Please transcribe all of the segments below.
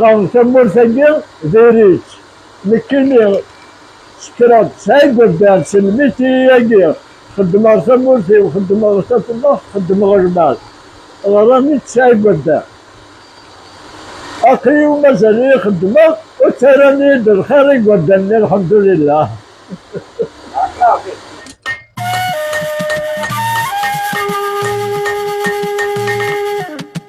Tamurt-agi diri-tt nekkini sekkreɣ tesɛa igerdan s lmitiyi-agi xeddmeɣ tamurt-iw xeddmeɣ tafellaḥt xeddmeɣ lmal ɣer-ami tesɛa igerdan aql-i mazal-iyi xeddmeɣ ur ttarran-iyi-d lxir igerdan-nni lḥemdulillah.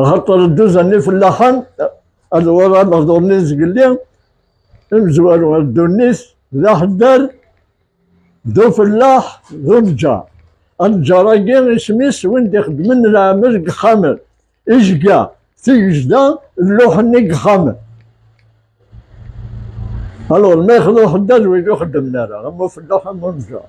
Axaṭer dduzan-nni fellaḥen, ad wala lehdur-nni zgelli, imezwaru ar ddunit, d aḥeddar, d ufellaḥ, d uneǧǧar. Aneǧǧar-agi isem-is win d-ixeddmen leɛmel deg yexxamen, ijga, tigejda, lluḥ-nni deg yexxamen. Alɣer ma yexḍa uḥeddad wigi ur xeddmen ara, am ufellaḥ am uneǧǧar.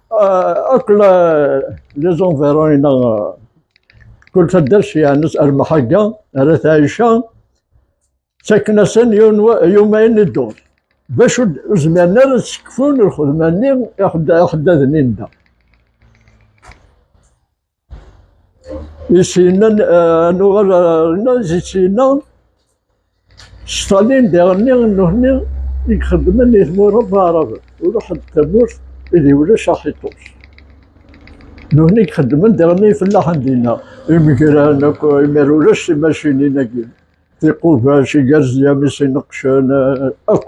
akk liẓunviṛun-ina kul taddart yeɛnes ar Mḥagga ar At Ɛica ttaken-asen yumayen i dduṛ d acu ur zmiren ara ad sekfun lxedma-nni iḥeddaden-inna. Isina, eh, nuɣal rna isina, Stalin d iɣenni nnuhni i ixeddmen i tmura n Arab, ur ḥedd tamurt ideg ulac aḥiṭuc. Nnuhni i ixeddmen d iɣenni ifellaḥen dinna, imegran akk, imir ulac timacinin-agi, tiqubac, igerziyam, isineqcen, eh, akk.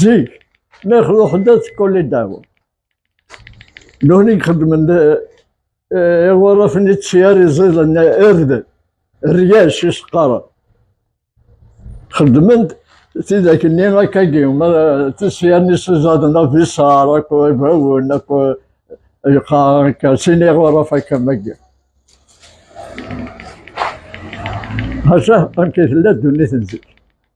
Zik, mi ruḥen-d ad tekkuli ddaw. Nwen i xedmen iɣurafen i tsyar iẓiḍen ird, ryac i s-qqaren. Xedmen-d tidak-nni akkagi, tisyarin i s-iẓaden abiṣar akkw ibawen akkw yeqqaren akka, sin iɣuraf akka magi. Maca amek i tella ddunit n zik.